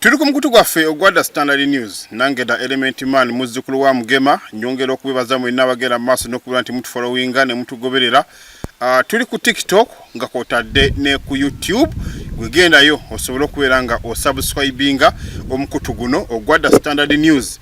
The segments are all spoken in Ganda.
Tuli ku mukutu gwaffe ogwa The Standard News nange da Element Man muzzukulu wa Mugema nyongera okubibaza mwenna abagenda mu maaso n'okubeera nti mutufolowinga ne mutugoberera. Uh, tuli ku TikTok nga kwotadde ne ku YouTube gwegendayo osobole okubeera nga osubscribinga omukutu guno ogwa The Standard News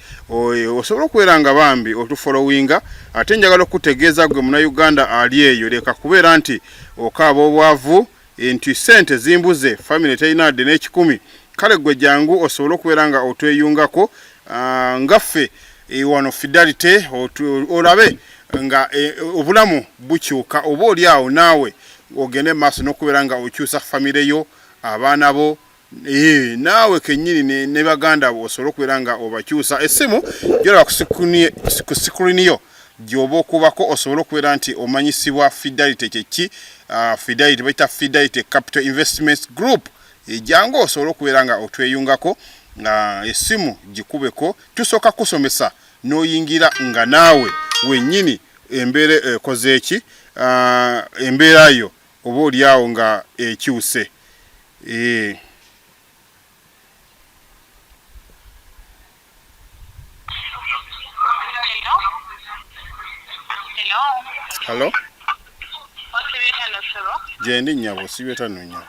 osobola okubeera nga bambi otufolowinga ate njagala okutegeeza gwe muna Uganda ali eyo leka kubeera nti okaaba obwavu nti ssente zimbuze famire terina adde n'ekikumi kale gwe jangu osobole okubeera nga otweyungako ah, nga ffe eh, wano fidelity olabe nga eh, obulamu bukyuka oba oli awo naawe ogende maaso n'okubeera nga okyusa famire yo abaana bo Ee, naawe kennyini ne, ne baganda abo osobole okubeera nga obakyusa essimu gyolaba ku sikulini yo gyoba okubako osobole okubeera nti omanyisibwa fidelity kyeki uh, fidelity bayita fidelity capital investments group ejangu eh, osobole okubeera nga otweyungako nga essimu gikubeko tusooka kusomesa n'oyingira nga naawe wennyini embeera ekozeeki uh, embeera yo oba oli awo nga ekyuse ee Hello? Gyendi nyabo sibe tano nyabo.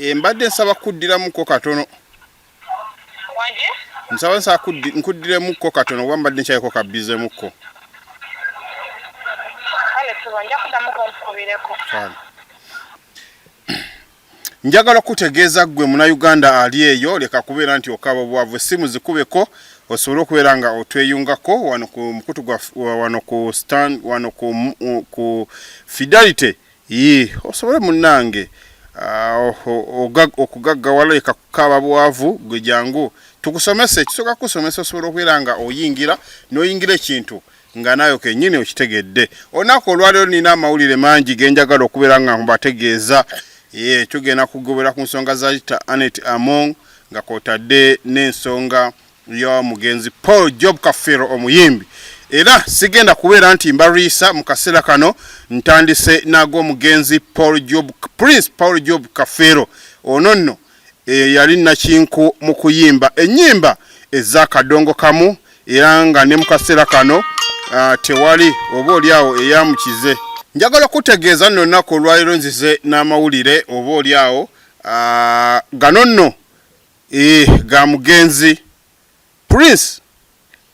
Embadde nsaba kuddiramuko katono. nsawo nsa nkuddiremukko katono oba mbadde nkyayeko kabbizemukko njagala okutegeeza ggwe munauganda ali eyo leka kubeera nti okaba obwavu essimu zikubeko osobole okubeera nga otweyungako wano ku mukutu wano ku fidelity Yii osobole munange okugaggawala leka kukaaba bwavu gwe jangu tukusomese ekisooka kukusomesa osobola okubeera nga oyingira n'oyingira ekintu nga naawe kenyini okitegedde olunaku olwaliro nina amawulire mangi genjagala okubeera nga mbategeeza ye tugenda kugobera ku nsonga za ita anet among nga kwotadde n'ensonga yo mugenzi paul job kafeero omuyimbi era sigenda kubeera nti mbariisa mu kaseera kano ntandise naago omugenzi paul job prince paul job kafeero ono nno eyo yali nakinku mu kuyimba ennyimba ez'akadongo kamu era nga ne mu kaseera kano ah, tewali oba oli awo eyamukize njagala okutegeeza nno nnaku olwaliro nzize n'amawulire oba oli awo ah, gano nno Eeh ga mugenzi Prince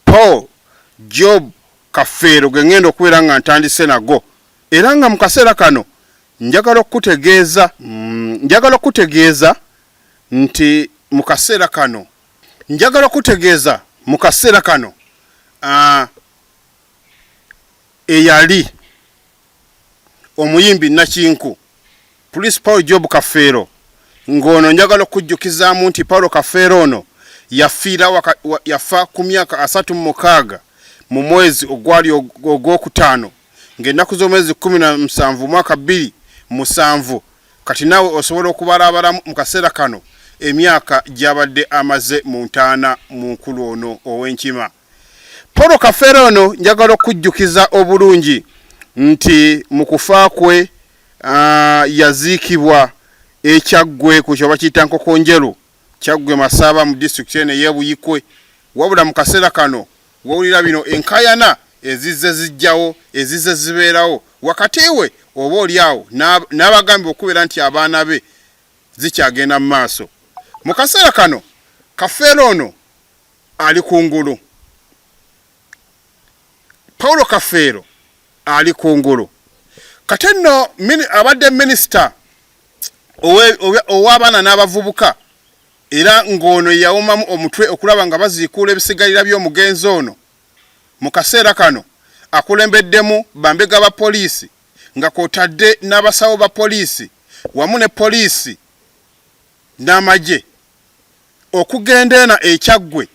Paul Job Kafeero ge ngenda okubeera nga ntandise nago era nga mu kaseera kano njagala okukutegeeza mm, njagala okukutegeeza nti mu kaseera kano njagala okukutegeeza mu kaseera kano ah, eyali omuyimbi Nakinku Police Paul Job Kafeero ng'ono njagala okujjukizaamu nti Paulo Kafeero ono yafiira waka, wa, yafa ku myaka asatu mu mukaaga mu mwezi ogwali ogwokutaano ng'ennaku z'omwezi kumi na musanvu mwaka bbiri musanvu kati naawe osobola okubalaabalamu mu kaseera kano emyaka gy'abadde amaze mu ntaana mu nkulu ono ow'enkima Paul Kafeero ono njagala okujjukiza obulungi nti mu kufa kwe ah, yaziikibwa ekyaggwe ku kyoba kiyita Nkokonjeru kyaggwe Masaaba mu disitulikiti eno ey'Ebuyikwe wabula mu kaseera kano wawulira bino enkayana ezizze zijjawo ezizze zibeerawo wakati we oba oli awo n'abagambibwa okubeera nti abaana be zikyagenda mu maaso mu kaseera kano kafeero ono ali ku ngulu paulo kafeero ali ku ngulu kati nno abadde minisita ow'abaana n'abavubuka era ng'ono yawumamu omutwe okulaba nga baziikuula ebisigalira by'omugenzi ono mu kaseera kano akulembeddemu bambega ba poliisi nga kwotadde n'abasawo ba poliisi wamu ne poliisi n'amagye okugenda eno e Kyaggwe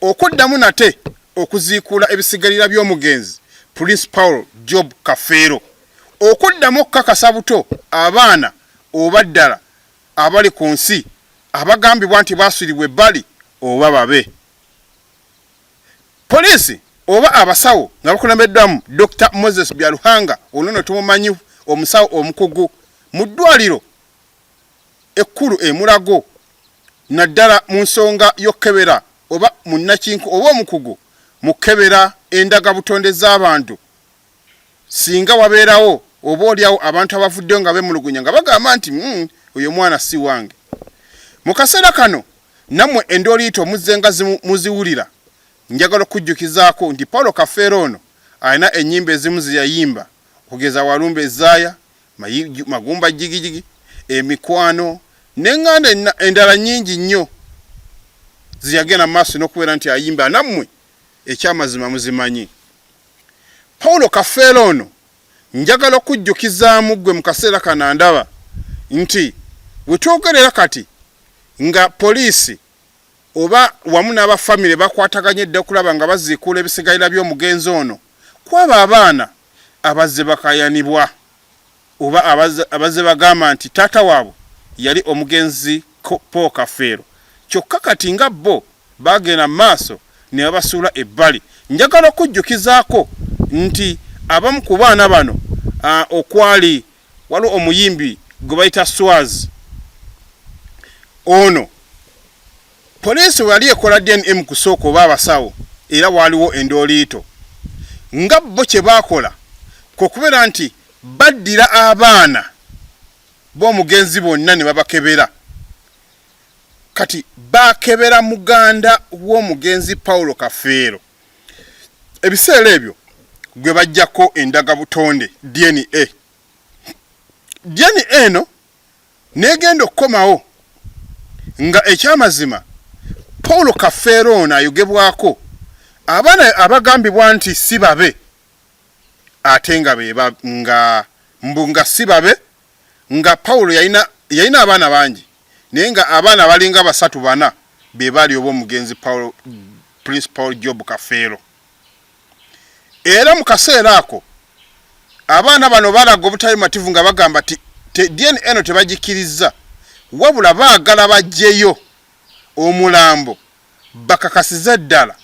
okuddamu nate okuziikuula ebisigalira by'omugenzi Prince Paul Job Kafeero okuddamu okukakasa buto abaana oba ddala abali ku nsi abagambibwa nti baaswiribwa ebbali oba babe Poliisi oba abasawo nga bakulembeddwamu Dokita Moses Byaruhanga ono nno tumumanyi omusawo omukugu mu ddwaliro ekkulu e Mulago naddala mu nsonga y'okukebera oba munnakinku oba omukugu mu kukebera endagabutonde z'abantu singa wabeerawo oba olyawo abantu abavuddeyo nga bemulugunya nga bagamba nti mm, oyo omwana si wange mu kaseera kano nammwe endooliito muzze nga muziwulira njagala okujjukizaako nti paulo kafeero ono alina ennyimba ezimu zeyayimba okugeza walumbe ezaaya Magumba Jigijigi, emikwano n'enganda endala nyingi nnyo zeyagenda maaso n'okubeera nti ayimba nammwe ekyamazima muzimanyi. Paulo Kafeero ono njagala okujjukizaamu ggwe mu kaseera kano ndaba nti wetwogerera kati nga poliisi oba wamu n'abafamire bakwataganye dda okulaba nga baziikuula ebisigalira by'omugenzi ono kwaba abaana abazze bakaayanibwa oba abazze bagamba nti taata waabwe yali omugenzi Paul Kafeero kyokka kati nga bbo baagenda mu maaso ne babasuula ebbali. Njagala okujjukizaako nti abamu ku baana bano okwali waliwo omuyimbi gwe bayita Swaz ono Poliisi bwe yali ekola DNA mu kusooka oba abasawo era waaliwo endooliito nga bo kye baakola kwe kubeera nti baddira abaana b'omugenzi bonna ne babakebera. Kati baakebera muganda w'omugenzi Paulo Kafeero ebiseera ebyo gwe baggyako endagabutonde, DNA. DNA eno n'egenda okukomawo nga ekyamazima Paul Kafeero ono ayogebwako abaana abagambibwa nti si babe ate nga beba nga mbu nga si babe nga Paul yalina yalina abaana bangi naye nga abaana balinga basatu bana be baali ob'omugenzi Paul Prince Paul Job Kafeero. era mu kaseera ako abaana bano balaga obutali mativu nga bagamba ti DNA eno tebagikirizza wabula baagala bagyeyo omulambo bakakasize ddala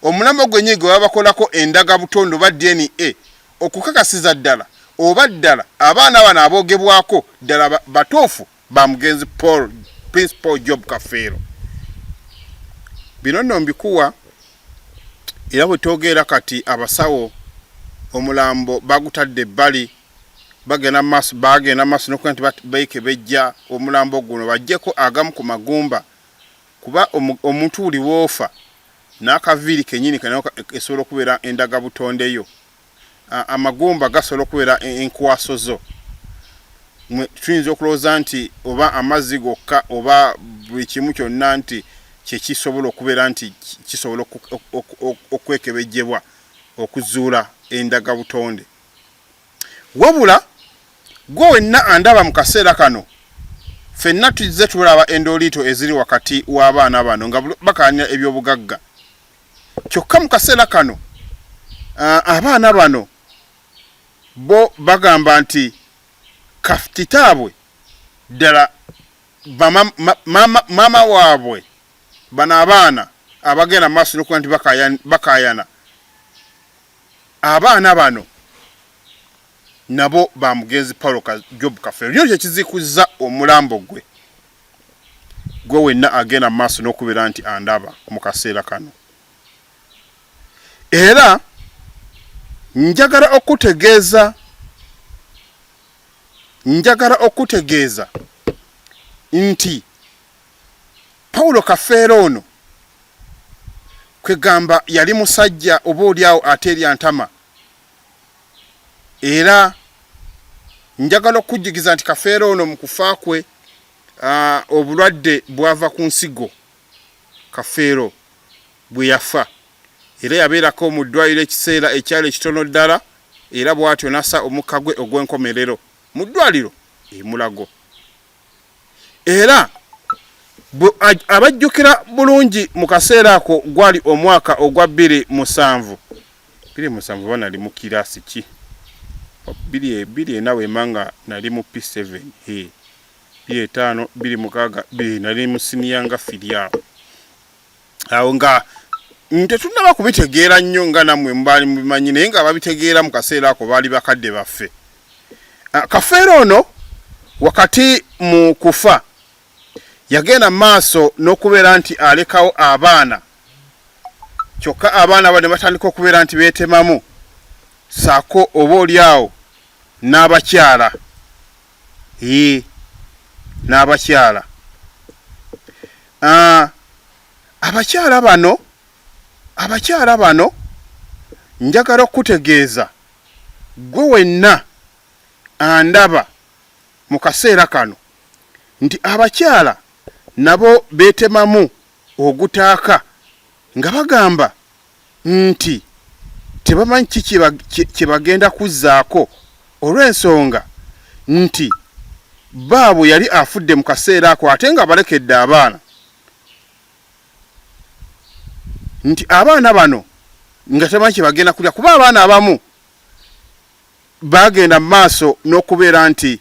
omulambo gwennyini gwe babakolako endaga butondo ba DNA okukakasiza ddala oba ddala abaana bano aboogebwako ddala batuufu. ba mugenzi Paul Prince Paul Job Kafeero bino nno mbikuwa era bwe twogeera kati abasawo omulambo bagutadde ebbali bagenda maaso bagenda maaso nokuba nti beekebejja omulambo guno bajjeko agamu ku magumba kuba omuntu buli woofa n'akaviiri kenyini esobola okubeera endaga butondeyo amagumba gasobola okubeera e, enkwaso zo tuyinza okulowooza nti oba amazzi gokka oba buli kimu kyonna nti kyekisobola okubeera nti kisobola okwekebejjebwa okuzuula endaga butonde wabula gwe wenna andaba mu kaseera kano fenna tuzze tulaba endoliito eziri wakati w'abaana bano nga bakaanira ebyobugagga kyokka mu kaseera kano abaana bano bo bagamba nti kitaabwe ddala maama waabwe bano abaana abagenda mu maaso nokuba nti bakaayana abaana bano nabo ba mugenzi paulo job kafeero nyo kyekizikuzza omulambo gwe gwe wenna agenda mu maaso n'okubeera nti andaba mu kaseera kano era njagala okutegeeza njagala okutegeeza nti pawulo kafeera ono kwegamba yali musajja oba olyawo ate erya ntama era njagala okukujjukiza nti kafeero ono mu kufa kwe obulwadde bwava ku nsigo kafeero bwe yafa era yabeerako mu ddwaliro ekiseera ekyali ekitono ddala era bw'atyo nasa omukka gwe ogw'enkomerero mu ddwaliro e Mulago. era abajjukira bulungi mu kaseera ako gwali omwaka ogwa bbiri musanvu bbiri musanvu oba nali mu kiraasi ki bbiri bbiri ena wema nga nali mu p7 he bbiri etaano bbiri mukaaga bbiri nali mu siniya nga firi awo awo nga tetunaba kubitegeera nnyo nga nammwe mubaali mubimanyi naye nga babitegeera mu kaseera ako baali bakadde baffe ah, kafeero ono wakati mu kufa yagenda mu maaso n'okubeera nti alekawo abaana kyokka abaana bane batandika okubeera nti beetemamu saako oba oli awo n'abakyala ii n'abakyala ah, abakyala bano abakyala bano njagala okukutegeeza gwe wenna andaba mu kaseera kano nti abakyala nabo beetemamu ogutaaka nga bagamba nti tebamanyi ki kye bagenda kuzzaako olw'ensonga nti bbaabwe yali afudde mu kaseera ako ate nga balekedde abaana nti abaana bano nga tebamanyi kye bagenda kulya kuba abaana abamu bagenda mu maaso n'okubeera nti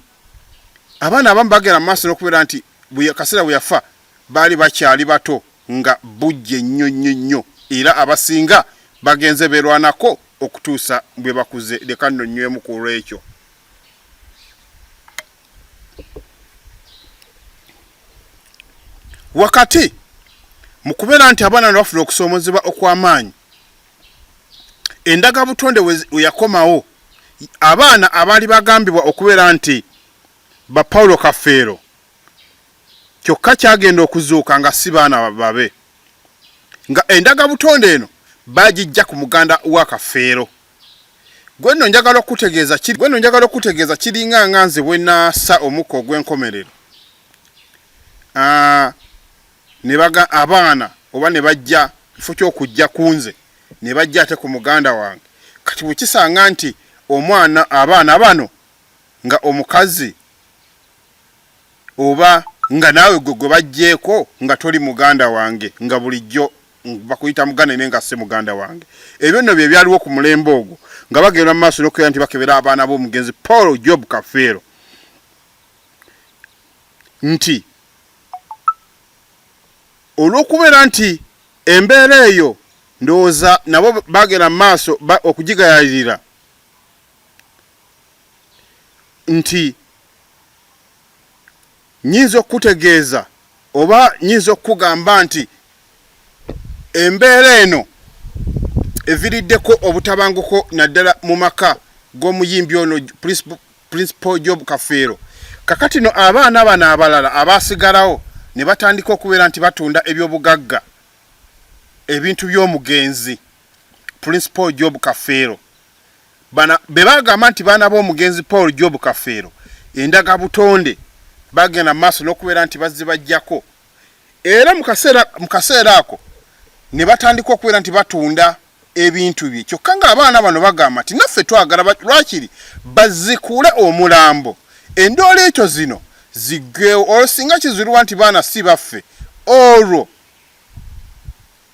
abaana abamu bagenda mu maaso n'okubeera nti kaseera bwe yafa baali bakyali bato nga bujje nnyo nnyo nnyo era abasinga bagenze beerwanako okutuusa bwe bakuze. Leka nno nnywemu ku lw'ekyo. Wakati mu kubeera nti abaana ne bafuna okusoomozebwa okw'amaanyi, endagabutonde we yakomawo, abaana abaali bagambibwa okubeera nti ba Paulo Kafeero kyokka kyagenda okuzuuka nga si baana babe nga endaga butonde eno baagijja ku muganda wa Kafeero. Gwe nno njagala okukutegeeza kiri gwe nno njagala okukutegeeza kiringa nga nze bwe naasa omukka ogw'enkomerero ah, ne baga abaana oba ne bajja kifo ky'okujja ku nze ne bajja ate ku muganda wange kati bwe kisanga nti omwana abaana bano nga omukazi oba nga naawe gwe gwe bajjeeko nga toli muganda wange nga bulijjo bakuyita muganda naye nga si muganda wange. Ebyo nno bye byaliwo ku mulembe ogwo nga bagenda mu maaso n'okubeera nti bakebera abaana b'omugenzi Paul Job Kafeero nti olw'okubeera nti embeera eyo ndowooza nabo bagenda mu maaso okugigayalirira nti nyinza okukutegeeza oba nyinza okukugamba nti embeera eno eviriddeko obutabanguko naddala mu maka g'omuyimbi ono principal job kafeero kakati no abaana bano abalala abaasigalawo ne batandika okubeera nti batunda ebyobugagga ebintu by'omugenzi principal job kafeero bana be bagamba nti baana b'omugenzi Paul Job Kafeero endaga butonde bagenda mu maaso n'okubeera nti bazze bajjako era mu kaseera ako ne batandika okubeera nti batunda ebintu bye kyokka ng'abaana bano bagamba nti naffe twagala lwakiri bazikule omulambo endoola ekyo zino ziggwewo olwo singa kizulibwa nti baana si baffe olwo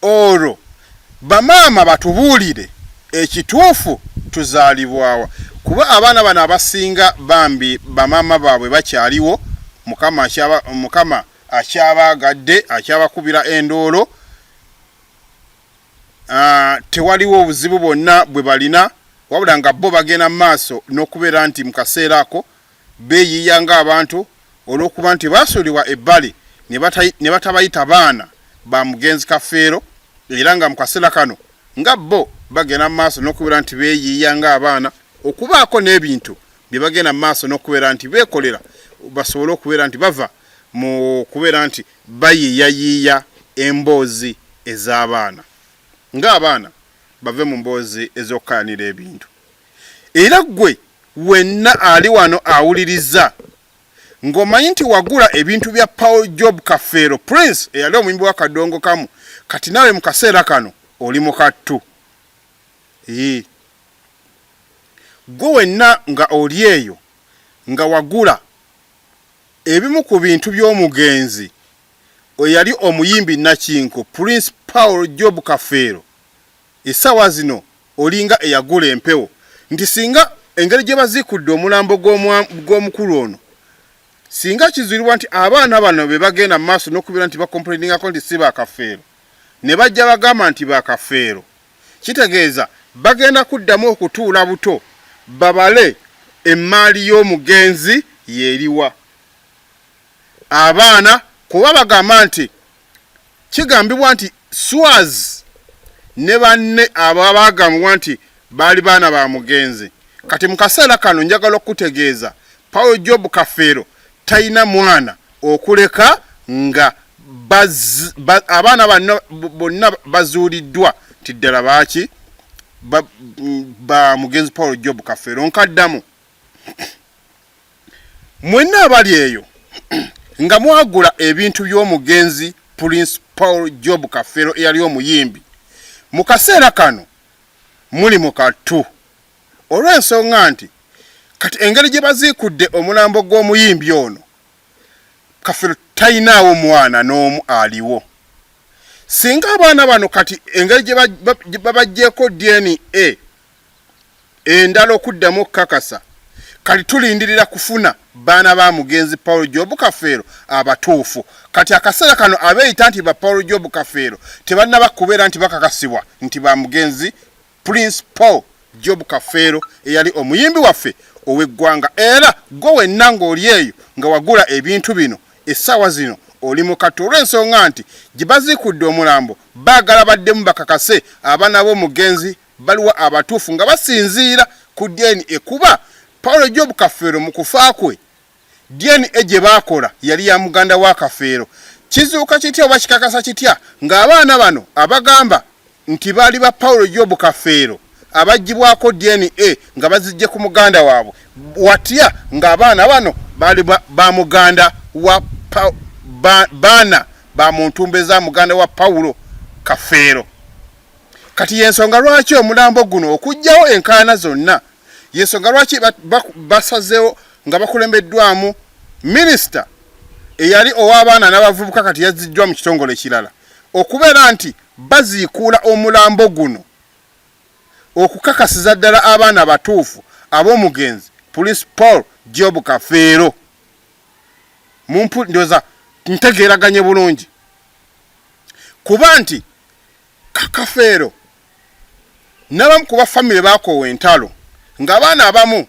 Olwo bamaama batubuulire ekituufu tuzaalibwawa kuba abaana bano abasinga bambi bamaama baabwe bakyaliwo mukama akyaba mukama akyabaagadde akyabakubira endoolo aah tewaliwo obuzibu bwonna bwebalina wabula nga bbo bagenda mumaaso nokubeera nti mukaseera ako beeyiiya ng'abantu olw'okuba nti baasuulibwa ebbali ne batabayita baana ba mugenzi Kafeero era nga mu kaseera kano nga bbo bagenda mu maaso n'okubeera nti beeyiiya ng'abaana okubaako n'ebintu bye bagenda mu maaso n'okubeera nti beekolera basobole okubeera nti bava mu kubeera nti bayiiyayiiya emboozi ez'abaana ng'abaana bave mu mboozi ez'okukayanira ebintu. Era ggwe wenna ali wano awuliriza, ng'omanyi nti wagula ebintu bya Paul Job Kafeero, Prince, eyali omuyimbi wa Kadongokamu, kati naawe mu kaseera kano oli mu kattu. Yii. Ggwe wenna nga oli eyo, nga wagula ebimu ku bintu by'omugenzi eyali omuyimbi nnakinku, Prince Paul Job Kafeero, Esawa zino olinga eyagula empewo nti singa engeri gyebazikudde omulambo gwomukulu ono singa kizulibwa nti abaana bano bebagenda mumaaso nokubera nti bakomplainingako nti si ba kafeero nebajja bagamba nti ba kafeero kitegeeza bagenda kuddamu okutuula buto babale emmaali yomugenzi yeriwa abaana kuba bagamba nti Kigambibwa nti Swaz ne banne abo abaagambibwa nti baali baana ba mugenzi kati mu kaseera kano njagala okukutegeeza Paul Job Kafeero talina mwana okuleka nga abaana bano bonna bazuuliddwa nti ddala baaki ba mugenzi Paul Job Kafeero. Nkaddamu. mwenna abali eyo nga mwagula ebintu by'omugenzi prince paul job kafero eyali omuyimbi mu kaseera kano muli mu kattu olw'ensonga nti kati engeri gye baziikudde omulambo gw'omuyimbi ono kafero talinaawo mwana n'omu aliwo singa abaana bano kati engeri gye babajjeeko dna endala okuddamu okukakasa kati tulindirira kufuna baana ba mugenzi Paul Job Kafeero abatuufu kati akaseera kano abeeyita nti ba Paul Job Kafeero tebannaba kubeera nti bakakasibwa nti ba mugenzi Prince Paul Job Kafeero eyali omuyimbi waffe ow'eggwanga era gwe wenna ng'oli eyo nga wagula ebintu bino essaawa zino oli mu kattu olw'ensonga nti gye baziikudde omulambo baagala baddemu bakakase abaana b'omugenzi Baliwa abatuufu nga basinziira ku DNA kuba Paul Job Kafeero mu kufa kwe DNA gye baakola yali ya muganda wa Kafeero. Kizuuka kitya oba kikakasa kitya ng'abaana bano abagamba nti baali ba Paul Job Kafeero abaggyibwako DNA nga baziggye ku muganda waabwe watya ng'abaana bano baali ba muganda wa baana ba muntumbe za muganda wa Paulo Kafeero. kati yensonga lwaki omulambo guno okujjawo enkaana zonna yensonga lwaki basazewo nga bakulembeddwamu minisita eyali ow'abaana n'abavubuka kati yazziddwa mu kitongole kirala okubeera nti baziikuula omulambo guno okukakasiza ddala abaana batuufu ab'omugenzi police paul job kafeero mumpu ndoza ntegeeraganye bulungi kuba nti Kafeero n'abamu ku baffamire baakoowa entalo ng'abaana abamu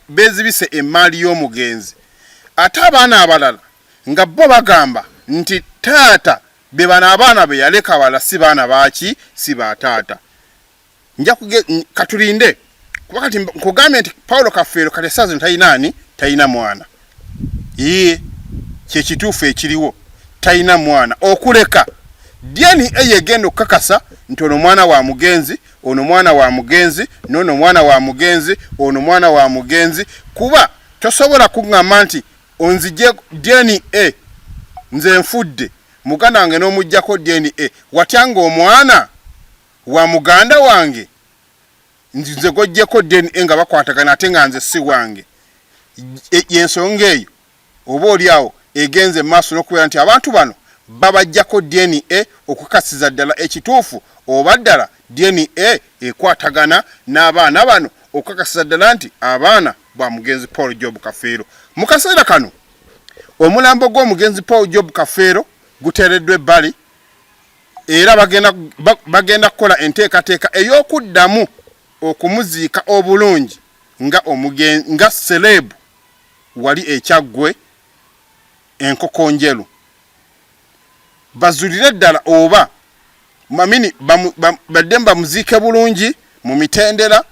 beezibise emmaali y'omugenzi ate abaana abalala nga bo bagamba nti taata be bano abaana be yaleka abalala si baana baaki si ba taata. nja kuge katulinde kuba kati nkugambye nti paulo kafeero kati esaazi talina ani talina mwana ye kyekituufu ekiriwo talina mwana okuleka dyeni eyo egenda okukakasa nti ono mwana wa mugenzi ono mwana wa mugenzi noono mwana wa mugenzi ono mwana wa mugenzi kuba tosobola kuŋŋamba nti onzije dyeni e nze nfudde muganda wange n'omugjako dyeni e watya ngaomwana wa muganda wange nze gojjeko DNA nga bakwatagana ate nga nze si wange e, yensonga eyo oba oli awo egenze maaso n'okubeera nti abantu bano babajjako DNA okukasiza ddala ekituufu oba ddala DNA ekwatagana n'abaana bano okukakasiza ddala nti abaana ba mugenzi Paul Job Kafeero mu kaseera kano omulambo gw'omugenzi Paul Job Kafeero guteereddwa ebbali era bagenda kukola enteekateeka ey'okuddamu okumuziika obulungi nga omugen nga sereebu wali ekyaggwe enkoko njelu bazulire ddala oba mamini baddemu bamuziike bulungi mu mitendera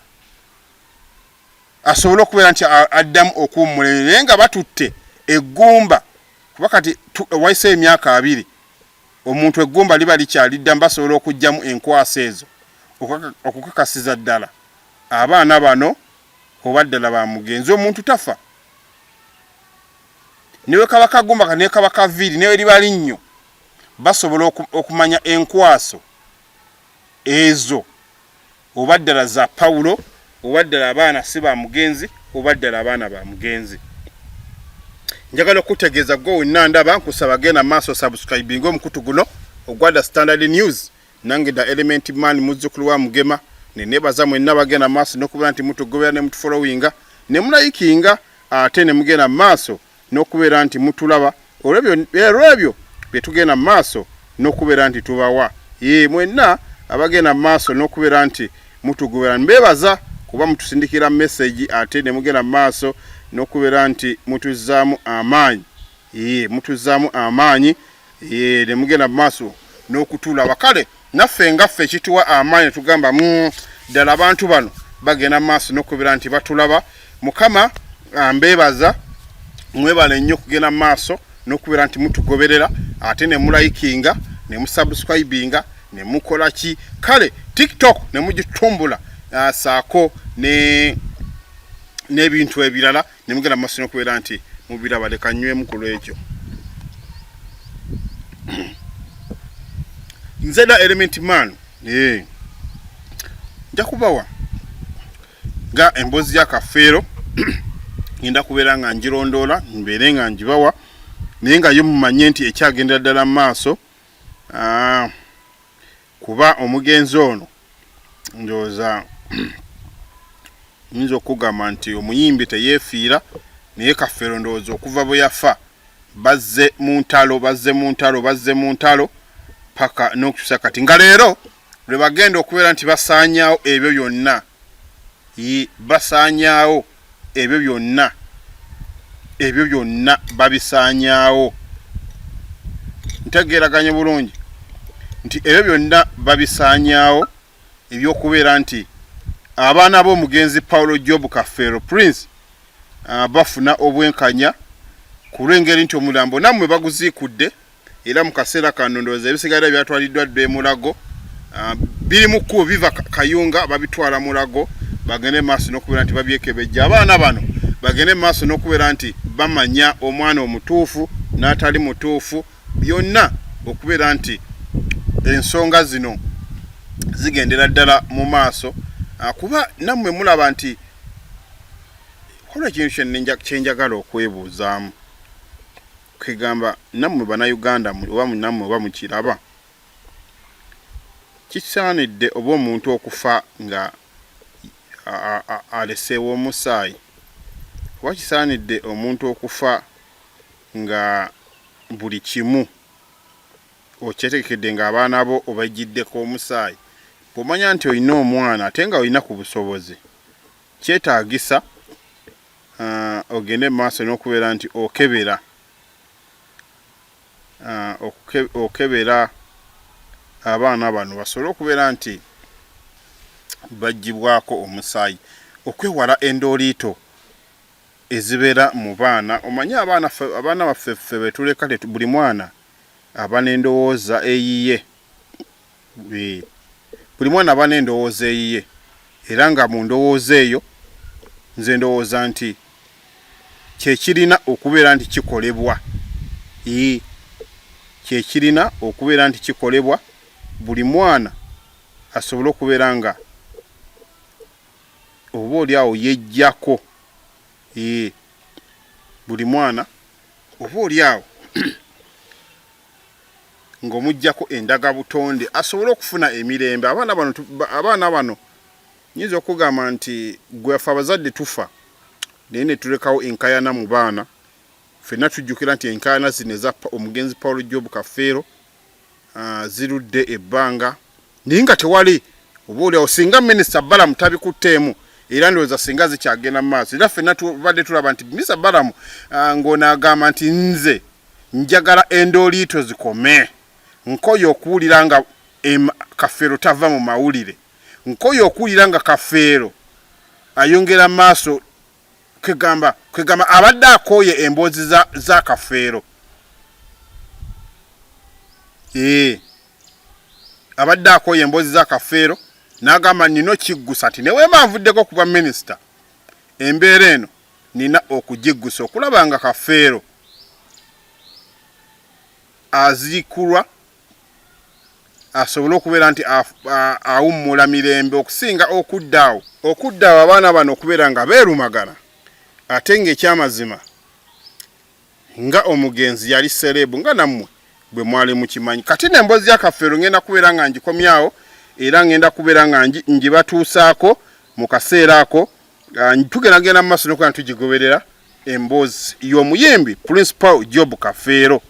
asobole okubeera nti addamu okuwummulere naye nga batutte eggumba kuba kati wayiseeyo emyaka abiri Omuntu eggumba liba likyali ddamu basobola okuggyamu enkwaso ezo okukakasiza ddala abaana bano oba ddala ba mugenzi. Omuntu tafa ne bwe kaba kagumba ne kaba kaviiri ne bwe liba linnyo basobola okumanya enkwaso ezo oba ddala za pawulo oba ddala abaana si ba mugenzi oba ddala abaana ba mugenzi njagala okutegeeza gwe wenna ndaba nkusaba genda maaso subscribing omukutu guno ogwada standard news nange da element man muzzukulu wa mugema nenebaza mwenna bagenda maaso nokubeera nti mutugobera ne mutufolowinga ne mulayikinga ate ne mugenda maaso n'okubeera nti mutulaba olw'ebyo bye tugenda mu maaso n'okubeera nti tubawa ye mwenna abagenda mu maaso n'okubeera nti mutugobera mbeebaza kuba mutusindikira mesegi ate ne mugenda mu maaso n'okubeera nti mutuzzaamu amaanyi ye mutuzzaamu amaanyi ye ne mugenda mu maaso n'okutulaba kale naffe nga ffe kituwa amaanyi tugamba mm, ddala abantu bano bagenda mu maaso n'okubira nti batulaba mukama ah, mbeebaza mwebale nnyo okugenda mu maaso n'okubeera nti mutugoberera ate ne mulayikinga ne musubscribinga ne mukola ki kale tiktok ne mugitumbula ah, saako n'ebintu ebirala ne mugenda mu maaso n'okubeera nti mubiraba leka nywemu ku lw'ekyo nze da element man ee nja kubawa nga emboozi ya kafeero ngenda kubeera nga njirondoola mbeere nga njibawa naye nga yo mumanye nti ekyagendera ddala mu maaso ah, kuba omugenzi ono ndowooza nyinza okugamba nti omuyimbi teyefiira naye kafeero ndowooza okuva bwe yafa bazze mu ntalo bazze mu ntalo bazze mu ntalo paka n'okukyusa kati nga leero lwe bagenda okubeera nti basaanyaawo ebyo byonna basaanyaawo ebyo byonna ebyo byonna babisaanyaawo ntegeeraganye bulungi nti ebyo byonna babisaanyaawo ebyokubeera nti abaana b'omugenzi paulo job kafeero prince ah, bafuna obwenkanya ku lw'engeri nti omulambo nammwe baguziikudde era mu kaseera kano ndowooza ebisigadde byatwaliddwa dda e Mulago ah, biri mu kkubo biva Kayunga babitwala Mulago bagende maaso n'okubeera nti babyekebejja abaana bano bagende maaso n'okubeera nti bamanya omwana omutuufu n'atali mutuufu byonna okubeera nti ensonga zino zigendera ddala mu maaso ah, kuba nammwe mulaba nti kola ekintu kyenjagala okwebuuzaamu Kwegamba namwe bana Uganda muli oba namwe oba mukiraba kisaanidde oba omuntu okufa nga aleseewo omusaayi oba kisaanidde omuntu okufa nga buli kimu okyetegekedde ng'abaana bo obajjiddeko omusaayi bw'omanya nti olina omwana ate nga olina ku busobozi kyetaagisa uh, ogende mu maaso n'okubeera nti okebera uh, oke, okebera abaana bano basobole okubeera nti bagibwako omusaayi okwewala endooliito ezibeera mu baana omanye abaana abaana baffe ffe betuleka buli mwana aba n'endowooza eyiye Eh, buli mwana aba n'endowooza eyiye era nga mu ndowooza eyo nze ndowooza nti kyekirina okubeera nti kikolebwa ii kyekirina okubeera nti kikolebwa buli mwana asobole okubeera nga oba oli awo yejjako ii buli mwana oba oli awo ng'omuggyako endaga butonde asobole okufuna emirembe. Abaana bano abaana bano nyinza okugamba nti gwe afe abazadde tufa naye ne tulekawo enkayana mu baana ffenna tujjukira nti enkayana zino eza omugenzi Paul Job Kafeero ah, zirudde ebbanga naye nga tewali oba oliawo singa minisita Balamu tabikutteemu era ndowooza singa zikyagenda mu maaso era ffenna tubadde tulaba nti minisita Balamu ah, ng'ono agamba nti nze njagala endooliito zikome, nkoye okuwulira nga em, Kafeero tava mu mawulire, nkoye okuwulira nga Kafeero ayongera maaso kwegamba kwegamba abadde akooye emboozi za, za Kafeero ee eh. abadde akooye emboozi za Kafeero n'agamba nina okiggusa nti ne weema nvuddeko ku bwa minisita embeera eno nina okugiggusa okulaba nga Kafeero aziikulwa asobole okubeera nti awummula mirembe okusinga okudda awo okudda awo abaana bano okubeera nga beerumagana ate ng'ekyamazima nga omugenzi yali sereebu nga nammwe bwe mwali mukimanyi kati n'emboozi ya kafeero ngenda kubeera nga ngikomyawo era ngenda kubeera nga ngibatuusaako mu kaseera ako Ah, tugenda genda mu maaso nokuba ntugigoberera emboozi y'omuyimbi principal job kafeero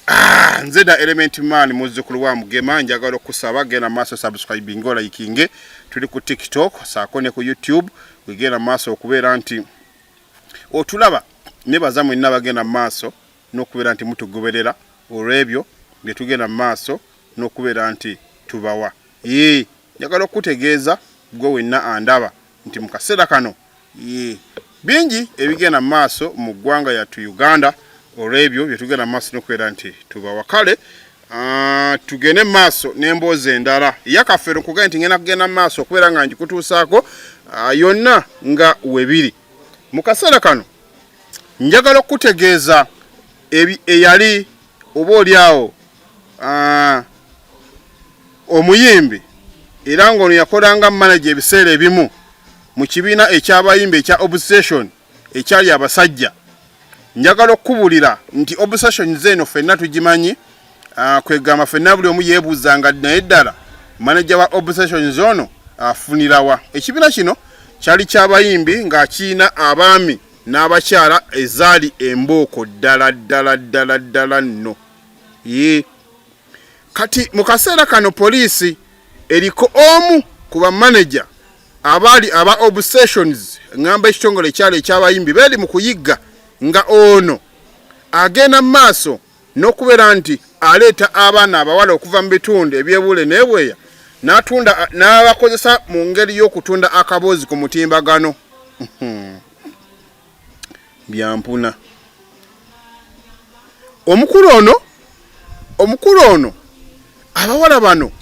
ah, nze da element man muzzukulu wa mugema njagala okusaba genda mu maaso subscribing olayikinge tuli ku tiktok saako ne ku youtube wegenda mu maaso okubeera nti otulaba nebaza mwenna bagenda mu maaso n'okubeera nti mutugoberera olw'ebyo bye tugenda mu maaso n'okubeera nti tubawa ee Njagala okukutegeeza gwe wenna andaba nti mu kaseera kano yee bingi ebigenda mu maaso mu ggwanga yattu Uganda olw'ebyo bye tugenda mu maaso n'okubeera nti tubawa kale ah, tugende mu maaso n'emboozi endala eyakafeero nkugambye nti ngenda kugenda mu maaso okubeera nga ngikutuusaako ah, yonna nga webiri mu kaseera kano njagala okukutegeeza eyali oba oli awo ah, Omuyimbi era ng'ono yakolanga manaja ebiseera ebimu mu kibiina eky'abayimbi ekya Obsession ekyali abasajja. Njagala okukubulira nti Obsession zeeno fenna tugimanyi, ah, kwegamba fenna buli omu yeebuuza nga naye ddala manaja wa Obsession zoono afunirawa. Ekibiina kino kyali ky'abayimbi nga kirina abaami n'abakyala ezaali embooko ddala ddala ddala ddala nno. Yee. Kati mu kaseera kano poliisi eriko omu ku bamaneja abaali aba obsessions ngamba ekitongole ekyalo ekyabayimbi beeri mu kuyigga nga ono agenda mu maaso n'okubeera nti aleeta abaana abawala okuva mu bitundu ebyebuule nebweya natunda n'abakozesa mu ngeri y'okutunda akaboozi ku mutimbagano byampuna omukulu ono omukulu ono abawala bano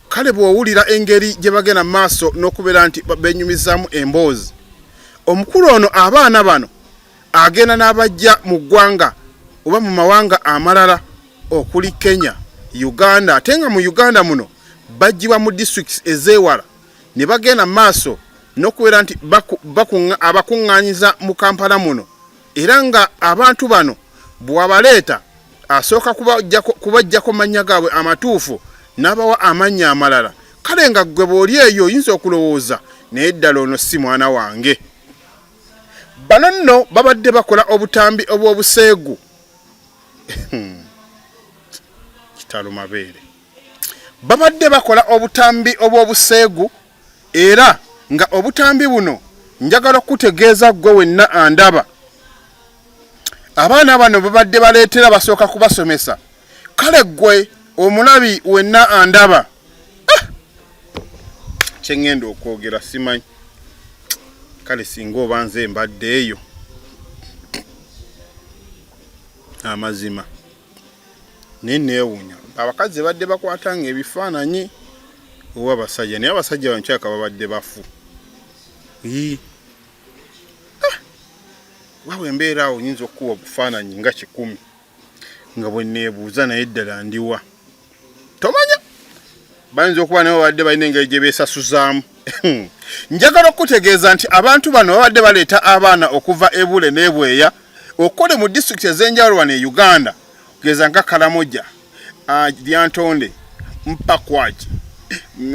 kale bwowulira engeri gye bagenda mu maaso n'okubeera nti benyumizaamu emboozi omukulu ono abaana bano agenda n'abajja mu ggwanga oba mu mawanga amalala okuli kenya uganda ate nga mu uganda muno bajjibwa mu districts ezeewala ne bagenda mu maaso n'okubeera nti abakuŋŋaanyiza mu kampala muno era nga abantu bano bw'abaleeta asooka kubajjako mannya gaabwe amatuufu n'abawa amannya amalala kale nga ggwe bw'oli eyo oyinza okulowooza naye ddala ono si mwana wange bano nno babadde bakola obutambi obw'obuseegu hmm. kitalo mabeere babadde bakola obutambi obw'obuseegu era nga obutambi buno njagala okukutegeeza ggwe wenna andaba abaana bano babadde baleetera basooka kubasomesa kale ggwe omulabi wenna andaba ah! kyeŋŋenda okwogera simanyi kale singa oba nze mbadde eyo amazima naye neewunya abakazi badde bakwata nga ebifaananyi oba abasajja naye abasajja bankyaka babadde bafu ah! wawe embeera awo nyinza okukuba obufaananyi nga kikumi nga bweneebuuza naye ddala ndiwa tomanya bayinza okuba naye babadde balina engeri gye beesasuzaamu njagala okukutegeeza nti abantu bano babadde baleeta abaana okuva ebule n'ebweya okukole mu disitulikiti ez'enjawulo wano e uganda kugeza nga kalamoja ah, lyantonde mpakwaki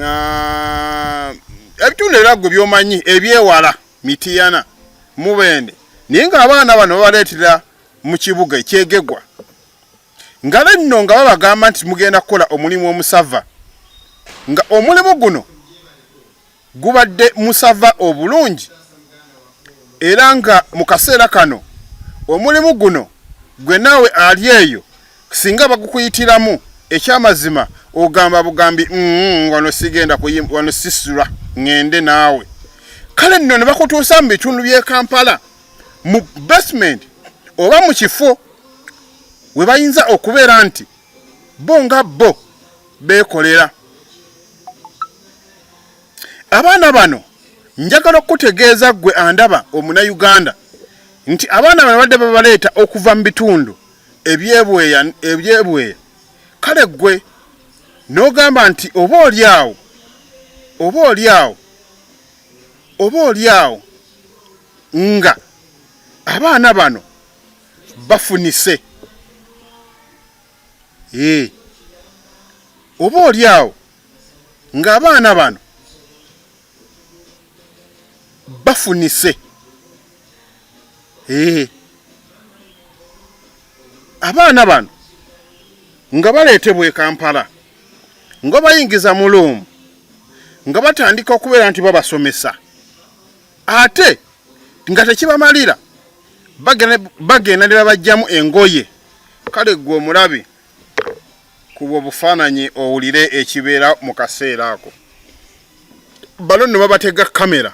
ah, ebitundu era gwe byomanyi ebyewala mitiyana mubende naye ng'abaana bano babaleetera mu kibuga ekyegegwa nga benno nga babagamba nti mugenda kukola omulimu omusava nga omulimu guno gubadde musava obulungi era nga mu kaseera kano omulimu guno gwe naawe ali eyo singa bagukuyitiramu ekyamazima ogamba bugambi mm, wano sigenda wano sisula ŋende naawe kale nno ne bakutuusa mu bitundu by'e kampala mu basement oba mu kifo we bayinza okubeera nti bo nga bo beekolera abaana bano njagala okukutegeeza ggwe andaba omunayuganda nti abaana bano badde babaleeta okuva mu bitundu ebyebweya ebyebweya kale ggwe n'ogamba nti oba oli awo oba oli awo oba oli awo nga abaana bano bafunise ee oba oli awo nga abaana bano bafunise ee abaana bano nga baleetebwa e kampala nga bayingiza mu loomu nga batandika okubeera nti babasomesa ate nga tekibamalira bagenda ne babajjamu engoye kale gwe omulabi kuba obufaananyi owulire ekibeera mu kaseera ako balo ne babatega kamera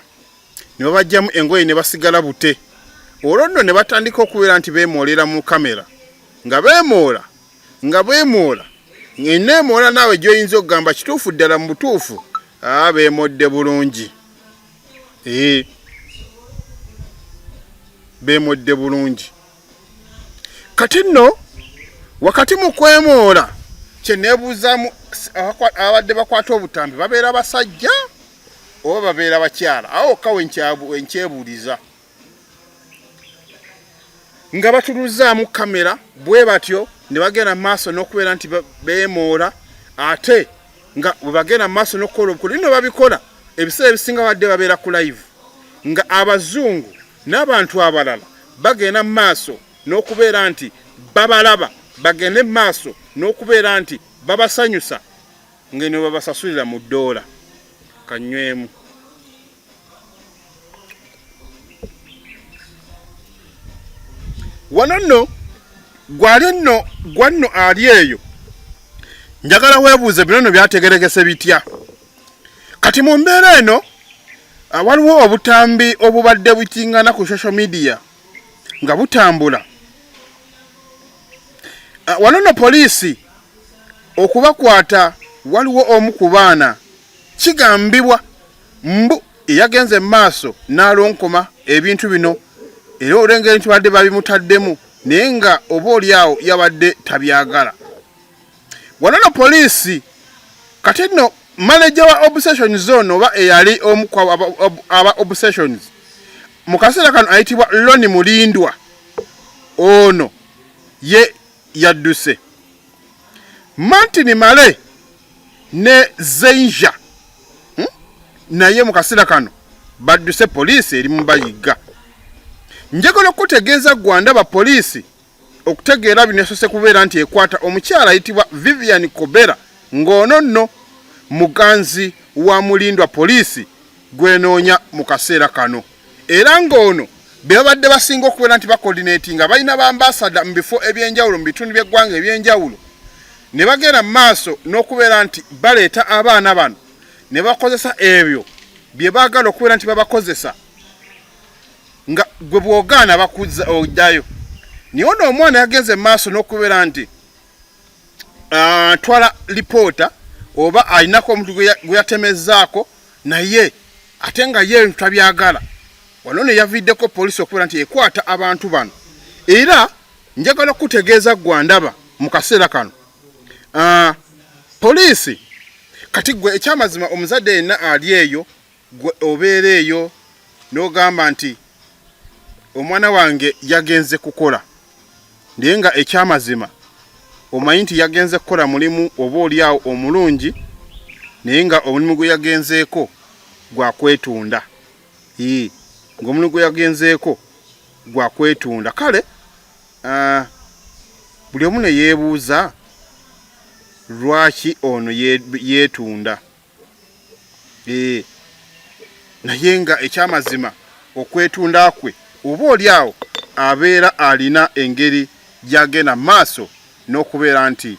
ne babajjamu engoye ne basigala bute olwo nno ne batandika okubeera nti beemoolera mu kamera nga beemoola nga beemoola eneemoola naawe gyoyinza okugamba kituufu ddala mu butuufu aa beemodde bulungi ee bemwedde bulungi kati nno wakati mu kwemoola kyenebuuzamu abadde bakwata obutambi babeera basajja oba babeera bakyala awo ka wenkyebuuliza nga batuluzzaamu kamera bwe batyo ne bagenda mu maaso n'okubeera nti beemoola ate nga bwe bagenda mu maaso n'okukola obukulu bino babikola ebiseera ebisinga badde babeera ku live nga abazungu n'abantu abalala bagenda mu maaso n'okubeera nti babalaba bagende mu maaso n'okubeera nti babasanyusa ng'eno babasasulira mu ddoola kanywemu wano nno gwali nno gwa nno ali eyo njagala weebuuze bino no byategeregese bitya kati mu mbeera eno ah, waliwo obutambi obubadde bukingana ku social media nga butambula ah, wano no poliisi okubakwata waliwo omu ku baana kigambibwa Mbu yagenze mu maaso n'alonkoma ebintu bino era olengeri nti badde babimutaddemu naye nga oba oli awo yabadde tabyagala. Wano no poliisi kati nno manaja wa obsession zone oba eyali omu aba obsessions mu kaseera kano ayitibwa Loni Mulindwa ono ye yadduse. Martin Male ne Zeinja hmm? naye mu kaseera kano badduse poliisi eri mu bayigga. Njagala okutegeeza Gwanda ba poliisi okutegeera bino esose kubeera nti ekwata omukyala ayitibwa Vivian Kobera ng'ono nno muganzi wa mulindwa poliisi gwenoonya mu kaseera kano. era ng'ono bebabadde basinga okubeera nti bakoordinetinga balina bambasada mu bifo ebyenjawulo mu bitundu by'eggwanga ebyenjawulo ne bagenda mu maaso n'okubeera nti baleeta abaana bano ne bakozesa ebyo bye baagala okubeera nti babakozesa nga gwe bwogaana bakuzza oddayo niye ono omwana yagenze mu maaso n'okubeera nti atwala ah, uh, lipoota oba alinako omuntu gwe yatemezaako naye ate nga ye ebintu tabyagala wano ne yaviddeko poliisi okubeera nti ekwata abantu bano era njagala okukutegeeza gwa ndaba mu kaseera kano uh, poliisi kati gwe ekyamazima omuzadde yenna ali eyo gwe obeera eyo n'ogamba nti omwana wange yagenze kukola naye nga ekyamazima omanyi nti yagenze kukola mulimu oba oliawo omulungi naye nga omulimu gwe yagenzeeko gwakwetunda ii ngaomulimu gwe yagenzeeko gwakwetunda kale uh, buli omu neyeebuuza lwaki ono yeetunda eh, naye nga ekyamazima okwetunda kwe oba oli awo abeera alina engeri gyagenda maaso n'okubeera nti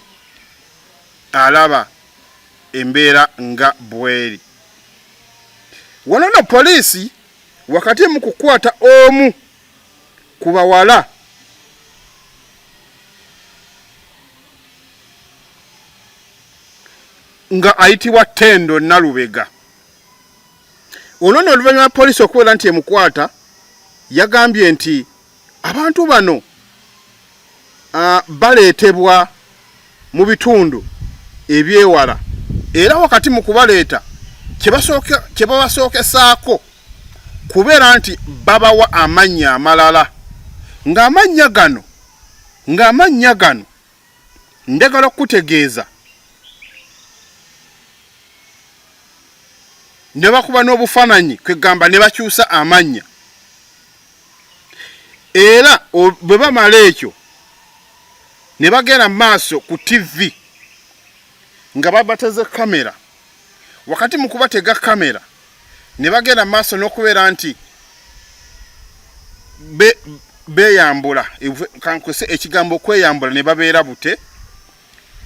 alaba embeera nga bweri wano no poliisi wakati mu kukwata omu ku bawala nga ayitibwa Tendo Nalubega. Ono no oluvannyuma poliisi okubeera nti emukwata yagambye nti abantu bano uh, baleetebwa mu bitundu ebyewala era wakati mu kubaleeta kye babasookesaako kubeera nti babawa amannya amalala ng'amannya gano ng'amannya gano Ndagala okukutegeeza ne bakuba n'obufaananyi kwegamba ne bakyusa amannya era bwe bamala ekyo ne bagenda mu maaso ku ttivi nga babateze kamera. wakati mu kubatega kamera ne bagenda mu maaso n'okubeera nti beeyambula kankozese ekigambo okweyambula ne babeera bute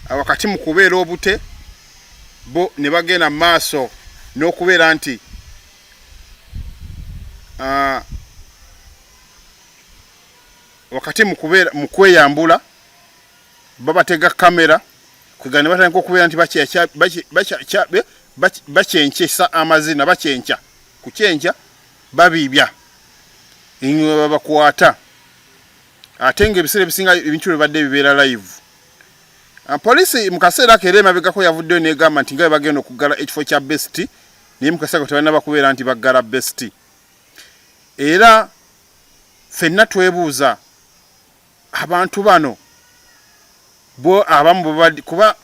wakati mu kubeera obute bo ne bagenda mu maaso n'okubeera nti wakati mu kweyambula babatega kamera kwegana ne batandika okubeera nti bakyenkyesa amazina bakyenkya ku kyenkya babiibya enyuma babakwata ate ng'ebiseera ebisinga ebintu bibadde bibeera live ah, poliisi mu kaseera ako era emabegako yavuddeyo negamba nti nga bwe bagenda okuggala ekifo kya besti naye mu kaseera ko tebalina bakubeera nti baggala besti era fenna twebuuza abantu bano bo abamu bwebabadde kuba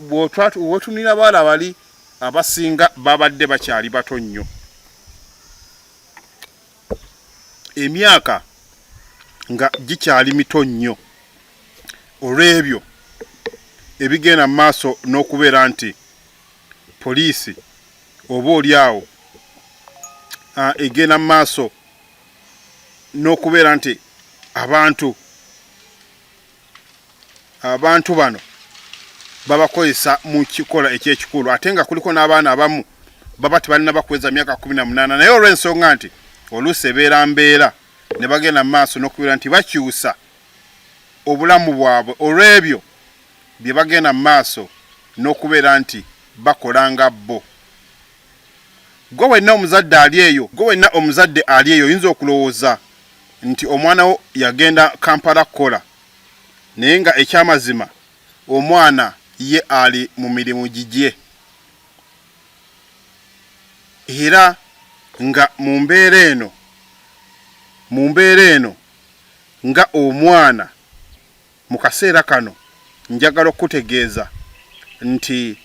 wotunira baala bali abasinga babadde bakyali bato nnyo emyaka nga gikyali mito nnyo olw'ebyo ebigenda mu maaso n'okubeera nti poliisi oba oli awo egenda mu maaso n'okubeera nti abantu abantu bano babakozesa mu kikola ekyekikulu ate nga kuliko n'abaana abamu baba tebalina bakweza myaka kumi na munaana naye olw'ensonga nti oluusi ebeera mbeera ne bagenda mu maaso n'okubeera nti bakyusa obulamu bwabwe olw'ebyo bye bagenda mu maaso n'okubeera nti bakola nga bo Ggwe wenna omuzadde ali eyo, ggwe wenna omuzadde ali eyo oyinza okulowooza nti omwana wo yagenda Kampala kukola naye nga ekyamazima omwana ye ali mu mirimu gigye era nga mu mbeera eno mu mbeera eno nga omwana Mu kaseera kano njagala okukutegeeza nti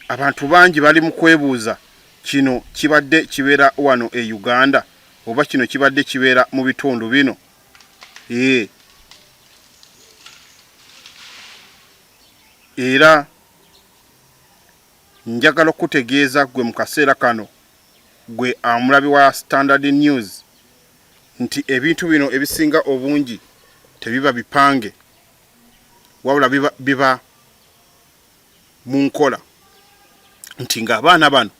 abantu bangi bali mu kwebuuza kino kibadde kibeera wano e Uganda oba kino kibadde kibeera mu bitundu bino ee era njagala okukutegeeza gwe mu kaseera kano gwe amulabi wa Standard News nti ebintu bino ebisinga obungi tebiba bipange wabula biba, biba mu nkola nti ng'abaana bano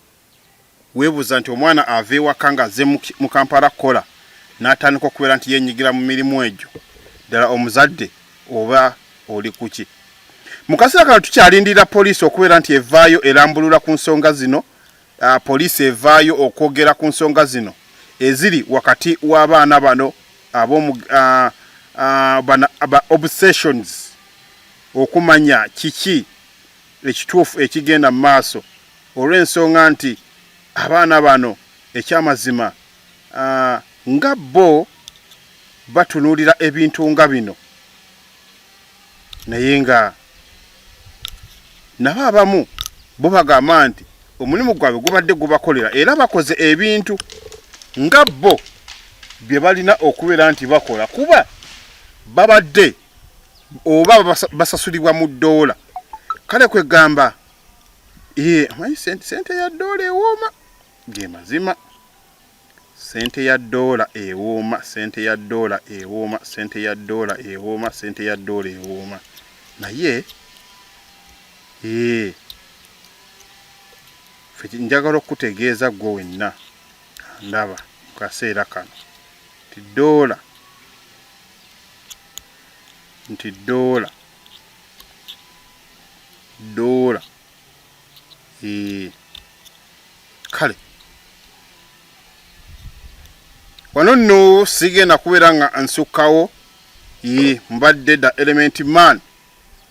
weebuuza nti omwana ava ewaka ng'azze mu kampala kukola n'atandika okubeera nti yenyigira mu mirimu egyo ddala omuzadde oba oli kuki mu kaseera kano tukyalindira poliisi okubeera nti evaayo erambulula ku nsonga zino uh, poliisi evaayo okwogera ku nsonga zino eziri wakati w'abaana bano abomu uh, uh, bana, ba obsessions okumanya kiki ekituufu ekigenda mu maaso olw'ensonga nti abaana bano ekyamazima uh, nga bo batunuulira ebintu nga bino naye nga nabo abamu bo bagamba nti omulimu gwabwe gubadde gubakolera era bakoze ebintu nga bo bye balina okubeera nti bakola kuba babadde oba basasulibwa mu ddoola kale kwegamba amanyi sente ya ddoola ewooma ge mazima Ssente ya ddoola ewooma, ssente ya ddoola ewooma, ssente ya ddoola ewooma, ssente ya ddoola ewooma. Naye ee, fe njagala okukutegeeza ggwe wenna ndaba mu kaseera kano nti ddoola nti ddoola ddoola Eh, kale wano nno sigenda kubeera nga nsukkawo ye mbadde da element man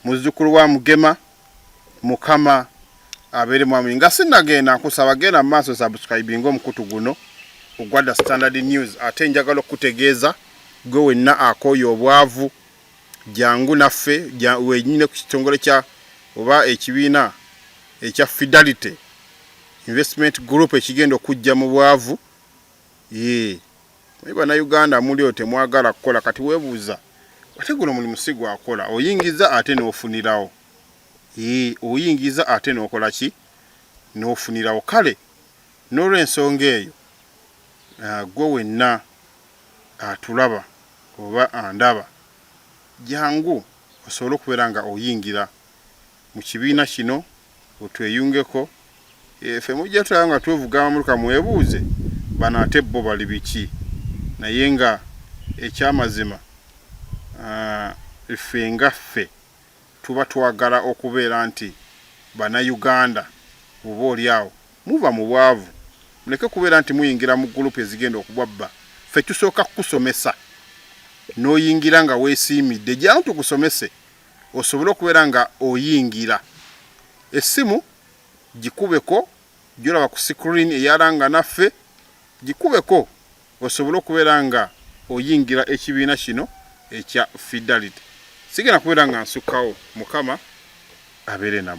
muzzukulu wa mugema mukama abeere mwami nga sinagenda nkusaba genda mu maaso subscribing omukutu guno ogwadda standard news ate njagala okukutegeeza gwe wenna akooye obwavu jangu naffe wenyine ku kitongole kya oba ekibiina ekya Fidelity Investment Group ekigenda okujja mu bwavu yee naye bannayuganda mulio temwagala kukola kati webuuza ate guno mulimu si gwakola oyingiza ate n'ofunirawo yee oyingiza ate n'okola ki n'ofunirawo kale n'olwensonga eyo ah, gwe wenna atulaba oba andaba jangu osobole okubeera nga oyingira mu kibiina kino otweyungeko efe mujja tulaba nga twevuga amamotoka mwebuuze bano ate bbo bali biki naye nga ekyamazima ffe nga ffe Tuba twagala okubeera nti bana Uganda oba oli awo muva mu bwavu muleke kubeera nti muyingira mu group ezigenda okubabba ffe tusooka kukusomesa noyingira nga wesiimidde jaawo tukusomese osobole okubeera nga oyingira essimu jikubeko jolaba ku screen eyalanga naffe jikubeko osobole okubeera nga oyingira ekibiina kino ekya fidelity sigenda kubeera nga nsukkawo mukama abeere namwe.